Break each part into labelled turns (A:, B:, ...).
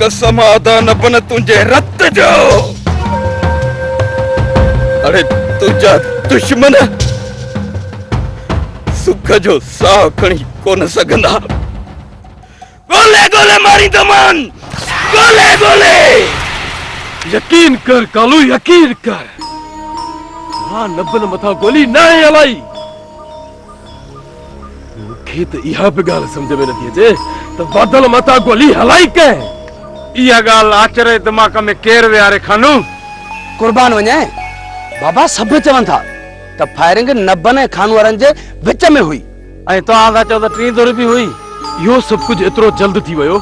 A: قسم ادا نه بن تنهنجي رت جو اڙي تنهنجا دشمن سک جو ساهه کڻي ڪونه سگهندا گولي گولي ماريندو مان گولي گولي.
B: يقين ڪر ڪالو يقين ڪر مان نبن مٿان گولي ناهي هلائي. مون کي ته اها به ڳالهه سمجهه ۾ نٿي اچي ته بادل ماتان گولي هلائي ڪنهن؟ اها
C: ڳالهه آچر جي دماغ ۾ ڪير ويهاري خانو؟ قربان
D: وڃين بابا سڀ چون ٿا ته فائرنگ نبن ۽ خانوارن جي وچ ۾ هئي. ۽ توهان ٿا چئو
C: ته ٽين ڌر به هئي. اهو سڀ ڪجهه
B: ايترو جلد ٿي ويو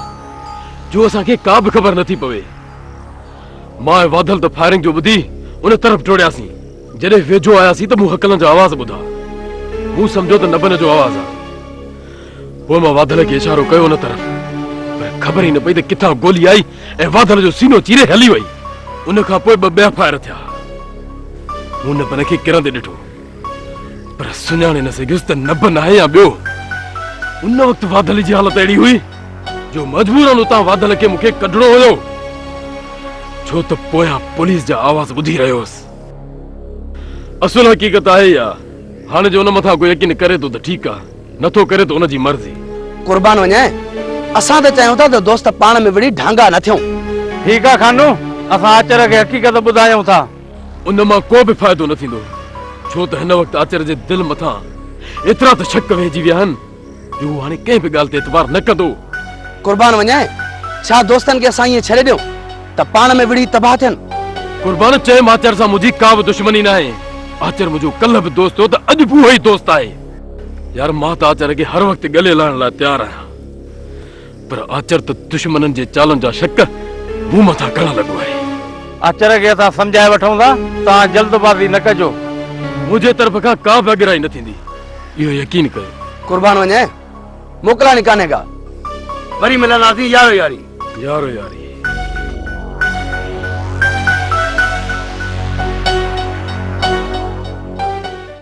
B: جو اسان کي ڪا به خبر نه ٿي پوي. مان ۽ واڌل ته فائرنگ جو ٻڌي ان طرف ڊوڙياسين. جڏهن ويجهو آياسين ته مون هڪلن جا آواز ٻڌا. مون سمجهيو ته نبن جو آواز آهي. پوء مان واڌل کي اشارو ڪيو ان طرف. پر خبر ئي نه پئي ته ڪٿان گولي آئي ۽ واڌل جو سينو چيري هلي وئي. ان کان پوء ٻه ٻيا فائر ٿيا. مون نبن کي ڪرندي ڏٺو. پر سڃاڻي نه سگهيس ته نبن آهي يا ٻيو. ان وقت واڌل جي حالت اهڙي هئي جو مجبورن اتان واڌل کي مون کي ڪڍڻو هيو ڇو ته پويان پوليس جا آواز ٻڌي رهيو هوس. اصل حقيقت آهي اها هاڻي جو ان مٿان ڪو يقين ڪري ٿو ته ٺيڪ آهي نه ٿو ڪري ته ان جي مرضي. قربان وڃان
D: اسان ته چاهيون ٿا ته دوست پاڻ ۾ وڙهي ڍانگا نه ٿيون. ٺيڪ آهي خانو
C: اسان آچر کي حقيقت ٻڌايون ٿا. ان مان ڪو
B: به فائدو نه ٿيندو، ڇو ته هن وقت آچر جي دل مٿان ايترا ته شڪ ويهجي ويا آهن جو هو هاڻي ڪنهن به ڳالهه تي اعتبار نه ڪندو. قربان وڃانء،
D: ڇا دوستن کي اسان ائين ڇڏي ڏيون ته پاڻ ۾ وڙهي تباهه ٿين؟ قربان چيم،
B: آچر سان منهنجي ڪا به دشمني ناهي. آچر منهنجو ڪلهه به دوست هو ته اڄ به اهو ئي دوست آهي. يار مان ته آچر کي هر وقت ڳلي لاهڻ لاء تيار آهيان. پر آچر ته دشمنن جي چالن جا شڪ مون مٿان ڪرڻ لڳو آهي. آچر کي اسان
C: سمجهائي وٺون ٿا، توهان جلدبازي نه ڪجو. منهنجي طرف
B: کان ڪا به اڳرائي نه ٿيندي، اهو يقين ڪيو. قربان وڃين،
D: موڪلاڻي ڪانهي ڪا. وري
C: ملنداسين يارو ياري. يارو ياري.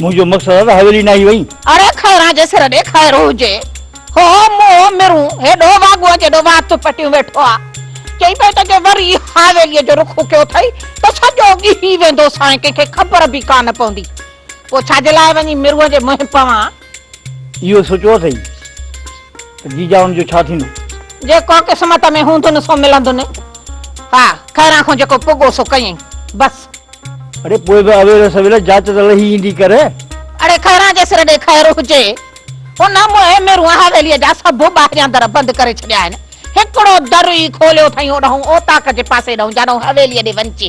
E: منهنجو مقصد آ ته حويلي ناهي وئي. اڙي خيران جي
F: سر ڏي خير هجي. هو منهن مرون هيڏو واڳوء جيڏو وات پٽيون ويٺو آ. چئي پئي ته جي وري حويليء جو رخ ڪيو اٿئي ته سڄو ڳهي ويندو سانء ڪنهن کي خبر به ڪانه پوندي. پوء ڇا جي لاء وڃي مرون جي منهن پوان. اهو
E: سوچيو اٿئي ته جيجائن جو ڇا ٿيندو؟ جيڪو قسمت
F: ۾ هوندن سو ملندن. ها، خيران کان جيڪو پڳو سو ڪيئي بس. اڙي پوء
E: به اويل سويل جاچ ته لهي ايندي ڪر. اڙي خيران
F: جي سر ڏي خير هجي. ان موهين ميرون حويليء جا سڀ ٻاهريان در بند ڪري ڇڏيا آهن. هڪڙو در ئي کوليو اٿائين اوڏانهن اوطاق جي پاسي ڏانهن جانئن حويليء ڏي وڃجي.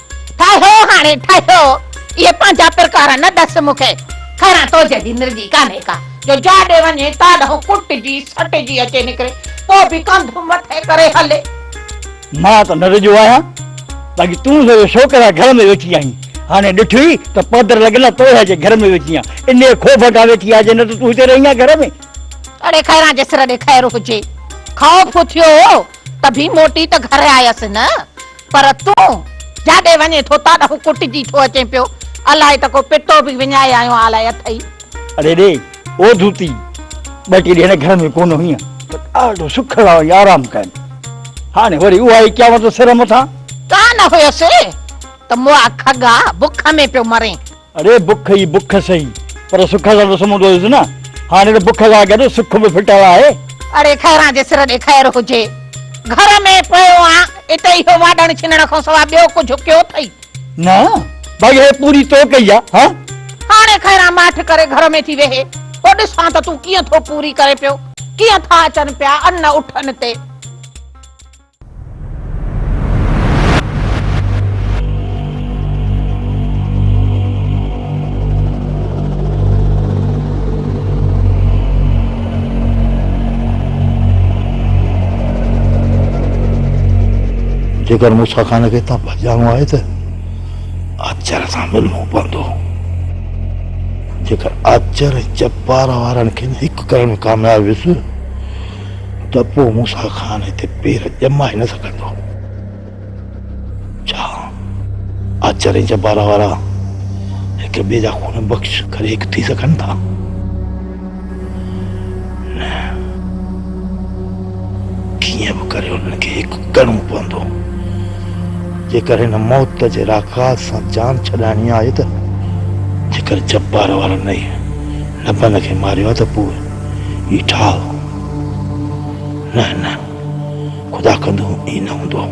E: ٺاهيو هاڻي
F: ٺاهيو اهي پنهنجا پرڪار نه ڏس مون کي خيران تو جهڙي نرگي ڪانهي ڪا جو جاڏي وڃي تا ڏانهن ڪٽجي سٽجي اچي نڪري پوء به ڪنڌ مٿي ڪري هلي. مان
E: ته نرگيو آهيان باقي تون سو جو شوق سان گهر ۾ ويٺي آهين هاڻي ڏٺوئي ته پادر لڳل آهي توڙي جي گهر ۾ ويٺي آهيان انهيء خوف کان ويٺي آهي جي نه ته تون هتي رهين هان گهر ۾. اڙي خيران
F: جي سر ڏي خير هجي خوف اٿيو هو ته به موٽي ته گهر آيس نه پر تون جاڏي وڃين ٿو تاڏ هو ڪٽجي ٿو اچين پيو. الائي ته ڪو پٽو به وڃائي آيو آن لاء اٿئي. اڙي ڙي
E: او ڌوتي ٻه ٽي ڏينهن گهر ۾ ڪونه هئين ته ڏاڍو سکڙا ۽ آرام ڪيم. هاڻي وري اها ئي قيامت سر مٿان. ڪا نه هيس
F: ته مئا کڳا بک ۾ پيو مرين. اڙي بک ئي
E: بک سهي پر سک سان ته سمهندو هيس نه. هاڻي ته بک سان گڏ سک به ڦٽل آهي. اڙي خيران جي
F: سر ڏي خير هجي. گهر ۾ پيو آهيان. اتي اهو واڍڻ ڇنڻ کان سواء ٻيو ڪجهه ڪيو اٿئي؟ نه
E: ڀائي هيء پوري تو ڪئي آهي ها. هاڻي خيران
F: ماٺ ڪري گهر ۾ ٿي ويهي. پوء ڏسان ته تون ڪيئن ٿو پوري ڪرين پيو. ڪيئن ٿا اچن پيا ان اٺن تي.
E: جيڪر موسيٰ خان کي اتان ڀڄڻو آهي ته آچر سان ملڻو پوندو جيڪر آچر ۽ چپار وارن کي هڪ ڪرڻ ۾ ڪامياب ويس ته پوء موسيٰ خان هتي پير ڄمائي نه سگهندو. ڇا آچر ۽ جبارا وارا هڪ ٻئي جا خون بخش ڪري هڪ ٿي سگهن ٿا؟ نه. ڪيئن به ڪري انهن کي هڪ ڪرڻو پوندو. جيڪر هن موت جي راڪاس سان جان ڇڏائڻي آهي ته جيڪر جبارا وارا نئي لبن کي ماريو ته پوء هي ٺاهه. نه نه خدا ڪندو ائين نه هوندو.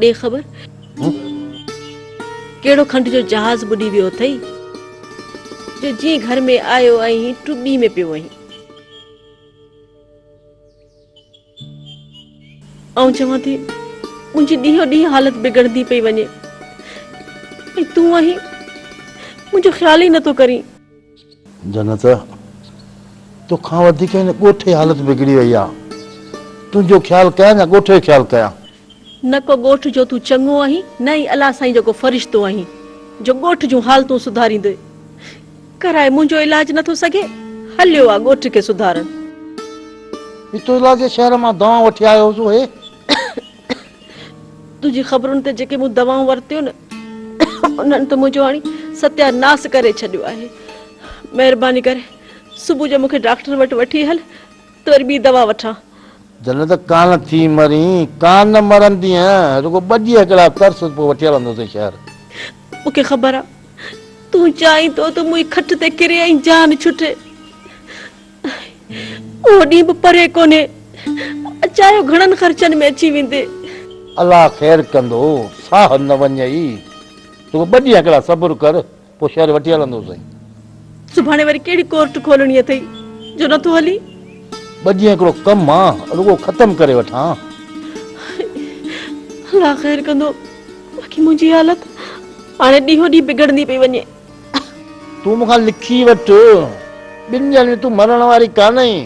G: ڏي خبر ڪهڙو کنڊ جو جهاز ٻڏي ويو اٿئي جو جيئن گهر ۾ آيو ۽ ٽٻي ۾ پيو وئين. آئون چوان ٿي منهنجي ڏينهون ڏينهن حالت بگڙندي پئي وڃي ۽ تون آهين منهنجو خيال ئي نٿو ڪرين. جنت
E: توکان وڌيڪ هن ڳوٺ جي حالت بگڙي وئي آهي تنهنجو خيال ڪيان يا ڳوٺ جو خيال ڪيان. نه ڪو
G: ڳوٺ جو تون چڱو آهين نه ئي الله سائين جو ڪو فرشتو آهين جو ڳوٺ جون حالتون سڌاريندوء ڪرائي منهنجو علاج نه ٿو سگهي هليو آ ڳوٺ کي سڌارڻ.
E: بتوجلا جي شهر مان دوائون وٺي آيو هوس اهي.
G: تنهنجي خبرن تي جيڪي مون دوائون ورتيون نه انهن ته منهنجو هاڻي ستيا ناس ڪري ڇڏيو آهي مهرباني ڪري صبح جو مون کي ڊاڪٽر وٽ وٺي هل. ته وري ٻي دوا وٺان. جنت
E: ڪانه ٿي مرين. ڪانه نه مرندينء. رڳو ٻه ڏينهن هڪڙا ترس پوء وٺي هلندوسين شهر. مون کي خبر
G: آ تون چاهين ٿو ته مون هي کٽ تي ڪري ۽ جان ڇٽي. اهو ڏينهن به پري ڪونهي. اچايو گهڻن خرچن ۾ اچي ويندين. الله
E: خير ڪندو. ساهه نه وڃئي. رڳو ٻه ڏينهن هڪڙا صبر ڪر. پوء شهر وٺي هلندو سائين. سڀاڻي
G: وري ڪهڙي ڪورٽ کولڻي اٿئي جو نٿو هلين؟ ٻه ڏينهن
E: هڪڙو ڪم آ رڳو ختم ڪري وٺان.
G: الله خير ڪندو باقي منهنجي حالت هاڻي ڏينهون ڏينهن بگڙندي پئي وڃي. تون
E: مون کان لکي وٺ ٻن ڏينهن ۾ تون مرڻ واري ڪانه آهين.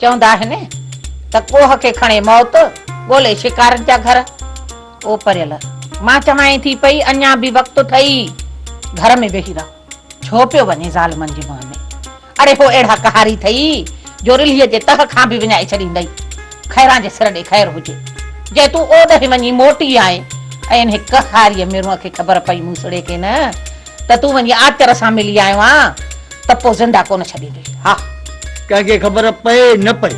F: چوندا آهن ته ڪوهه کي کڻي موت ڳولي شڪارن جا گهر او پريل مان چوانء ٿي پئي اڃا به وقت اٿئي گهر ۾ ويهي رهه. ڇو پيو وڃين ظالمن جي منهن ۾. اڙي هو اهڙا قهاري اٿئي جو رلهيء جي تهه کان به وڃائي ڇڏيندئي. خيران جي سر ڏي خير هجي، جنهن تون اوڏهين وڃي موٽي آئين ۽ انهي قهاريء ميرونء کي خبر پئي موسڙي کي نه ته تون وڃي آچر سان ملي آيو آن ته پوء زنده ڪونه ڇڏيندينء. ها! ڪنهن کي خبر
E: پئي نه پئي،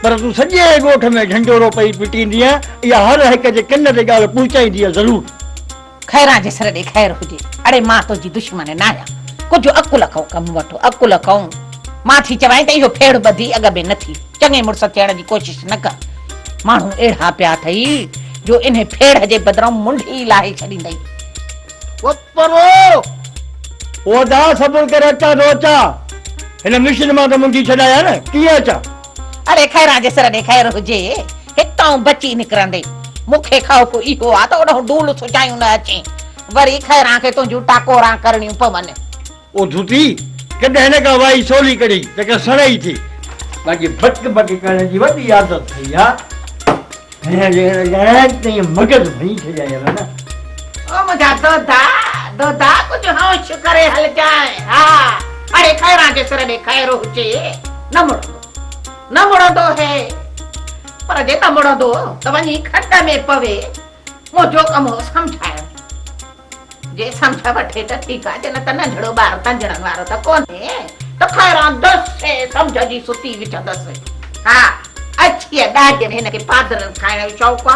E: پر تون سڄي ڳوٺ ۾ ڍنڍورو پئي پٽيندينء. اها هر هڪ جي ڪن تي ڳالهه پهچائيندينء ضرور. خيران جي
F: سر ڏي خير هجي. اڙي مان تنهنجي دشمن ناهيان. ڪجهه عقل کان ڪم وٺ. عقل کان. مان ٿي چوانء ته اهو ڦيڙهه ٻڌي اڳ ۾ نه ٿي. چڱي مڙس ٿيڻ جي ڪوشش نه ڪر. ماڻهو اهڙا پيا اٿئي جو انهي ڦيڙهه جي بدران منڍ ئي لاهي ڇڏيندئي. وپرو!
E: اودا صبر ڪر اچان ٿو اچان. هن مشن مان ته منڍي ڇڏايان نه. ڪيئن اچان؟ اڙي خيران
F: جي سر ڏي خير هجي. هتان بچي نڪرندي مون کي خوف اهو آ ته اوڏانهن ڊول سجايون نه اچين، وري خيران کي تنهنجون ٽاڪوران ڪرڻيون پون. او ڌوتي!
E: ڪڏهن نه ڪا وائي سولي ڪڍي ته ڪا سڻائي ٿئي. باقي بڪ بڪ ڪرڻ جي وڏي عادت ٿئي آ. هينئر جيڪڏهن ڳالهائينس ته ايئن مغز ڀڃي ڇڏيائين ها نه. او منهنجا
F: دودا، دودا ڪجهه هوش ڪري هلجانء ها. اڙي خيران جي سر ڏي خير هجي نه مڙندو. نه مڙندو هي، پر جيڪا مڙندو ته وڃي کٽ ۾ پوي، منهنجو ڪم هو سمجهائڻ، جي سمجهه وٺي ته ٺيڪ آ، جي نه ته ننڍڙو ٻار تنجڻن وارو ته ڪونهي، ته خيران دس سي سمجهه جي ستي وجهندس. ها، اڇيء ڏاڍين هن کي پادرن کائڻ جو شوق آ.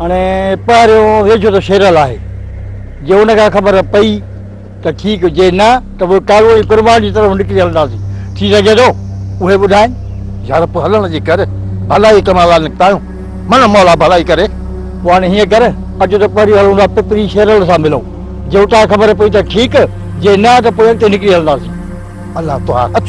C: هاڻي پهريون ويجهو ته شيرل آهي، جي ان کان خبر پئي ته ٺيڪ، جي نه ته پوء ڪارو ۽ قربان جي طرف نڪري هلنداسين، ٿي سگهي ٿو اهي ٻڌائين. يار پوء هلڻ جي
E: ڪر، ڀلائي ڪم لاء نڪتا آهيون، مڙن مولا ڀلائي ڪري. پوء هاڻي هيئن ڪر،
C: اچ ته پهريون هلون ٿا پپري شيرل سان ملون، جي اتان خبر پئي ته ٺيڪ، جي نه ته پوء اڳتي نڪري هلنداسين. الله تون هاڻ
E: اچ.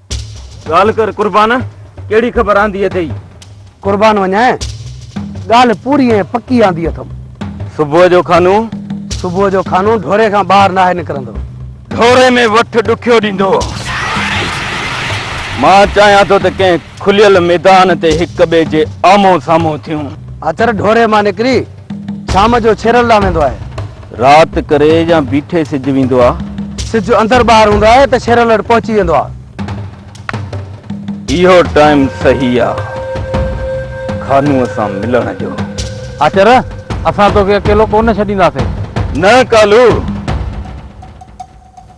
A: ڳالهه ڪر قربان، ڪهڙي خبر آندي اٿئي؟ قربان وڃان،
D: ڳالهه پوري ۽ پڪي آندي اٿم. صبح جو خانو؟
A: صبح جو خانو
D: ڍوري کان ٻاهر ناهي نڪرندو. ڍوري ۾
A: وٺ ڏکيو ڏيندو. مان چاهيان ٿو ته ڪنهن کليل ميدان تي هڪ ٻئي جي آمهون سامهون ٿيون. اچر ڍوري مان
D: نڪري شام جو ڇيرل ڏانهن ويندو آهي. رات ڪري يا
A: بيٺي سج ويندو آ. سج اندر ٻاهر
D: هوندو آهي ته ڇيرل اڏ پهچي ويندو آ. اهو
A: ٽائيم صحيح آ خانوء سان ملڻ جو. آچر
C: اسان توکي اڪيلو ڪونه ڇڏينداسين. نه ڪالو،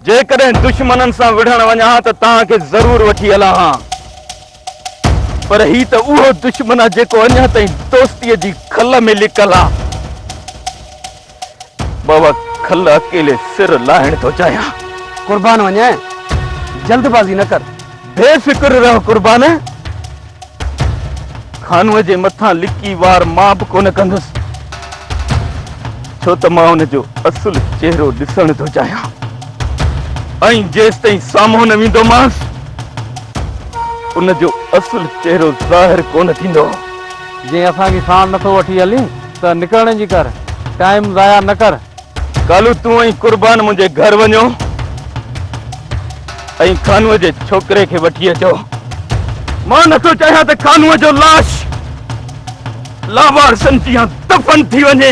A: جيڪڏهن دشمنن سان وڙهڻ وڃان ها ته توهان کي ضرور وٺي هلان ها. پر هي ته اهو دشمن آ جيڪو اڃا تائين دوستيء جي کل ۾ لڪل آ. مان اها کل اڪيلي سر لاهڻ ٿو چاهيان. قربان وڃين
D: جلد بازي نه ڪر. بي فڪر رهه
A: قربان. خانوء جي مٿان لڪي وار مان به ڪونه ڪندس. ڇو ته مان ان جو اصل چهرو ڏسڻ ٿو چاهيان. ۽ جيستائين سامهون نه ويندومانس ان جو اصل چهرو ظاهر ڪونه ٿيندو. جي اسان
C: کي ساڻ نٿو وٺي هلين ته نڪرڻ جي ڪر. ٽائيم ضايع نه ڪر. ڪالهه تون
A: ۽ قربان منهنجي گهر وڃو ۽ کانوء جي ڇوڪري کي وٺي اچو. مان نٿو چاهيان ته کانوء جو لاش لاوارثن جيان دفن ٿي وڃي.